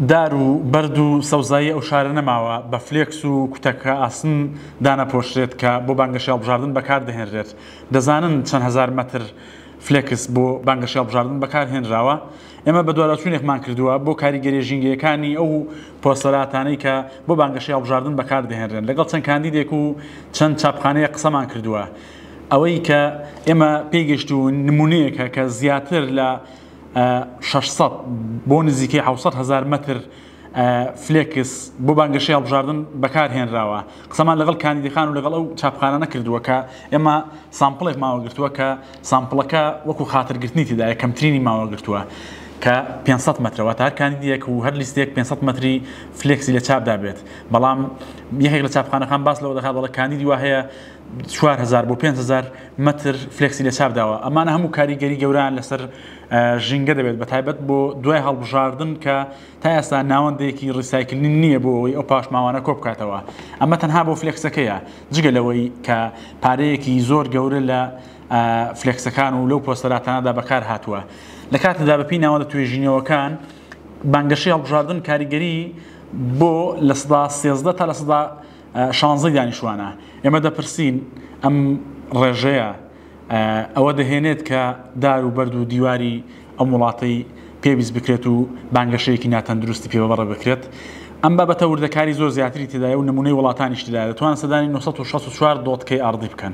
دار و بەرد و سەوزایی ئەو شارە نەماوە بە فلێکس و کوتەکە ئاسن دانەپۆشرێت کە بۆ بانگەشەی هەڵبژاردن بەکاردەهێنرێت. دەزانن چەند هەزار مەتر فلێکس بۆ بانگەشەی هەڵبژاردن بەکارهێنراوە؟ ئێمە بەدواداچوونێکمان کردووە بۆ کاریگەرییە ژینگەیەکانی ئەو پۆستەراتانەی کە بۆ بانگەشەی هەڵبژاردن بەکاردەهێنرێن. لەگەڵ چەند کاندیدێک و چەند چاپخانەیەک قسەمان کردووە. ئەوەی کە ئێمە پێیگەیشتوون نموونەیەکە کە زیاتر لە شەش سەد بۆ نزیکەی حەوت سەد هەزار مەتر فلێکس بۆ بانگەشەی هەڵبژاردن بەکارهێنراوە قسەمان لەگەڵ کاندیدەکان و لەگەڵ ئەو چاپخانانە کردووە کە ئێمە سامپڵێک ماوەگرتووە کە سامپڵەکە وەکو خاترگرتنی تێدا یەکەمترینی ماوەگرتووە کە 500 مەترەوە تا هەر کاندیدێک و هەر لیستێک 500 مەتری فلێکسی لە چاپدا بێت بەڵام یەکێک لە چاپخانەکان باس لەوە دەکات دەڵە کاندیدی وە هەیە چوار هەزار بۆ پێنج هەزار مەتر فلێکسی لەچاپ داوە ئەمانە هەموو کاریگەری گەوران لەسەر ژینگە دەبێت بە تایبەت بۆ دوای هەڵبژاردن کە تا ئێستا ناوەندێکی ڕیسایکلین نییە بۆ ئەوەی ئەو پاشماوانە کۆ بکاتەوە ئەمە تەنها بۆ فلێکسەکەیە جگە لەوەی کە پارەیەکی زۆر گەورە لە فلێکسەکان و لەو پۆستەراتانەدا بەکار هاتووە لە کاتەدا بەپی ناوەندە توێژینەوەکان بانگەشەی هەڵبژاردن کاریگەری بۆ لە سدا سێزدە تا لە سدا شانزەی دانیشتوانە. ئێمە دەپرسین ئەم ڕێژەیە ئەوە دەهێنێت کە دار و بەرد و دیواری ئەم وڵاتەی پێویست بکرێت و بانگەشەیەکی ناتەندروستی پێ بەبڕێ بکرێت؟ ئەم بابەتە وردەکاری زۆر زیاتری تێدایە و نموونەی وڵاتانیش تێدایە دەتوانن سەدانی نۆ سەد و شەست و چوار دۆتکەی ئاڕدی بکەن.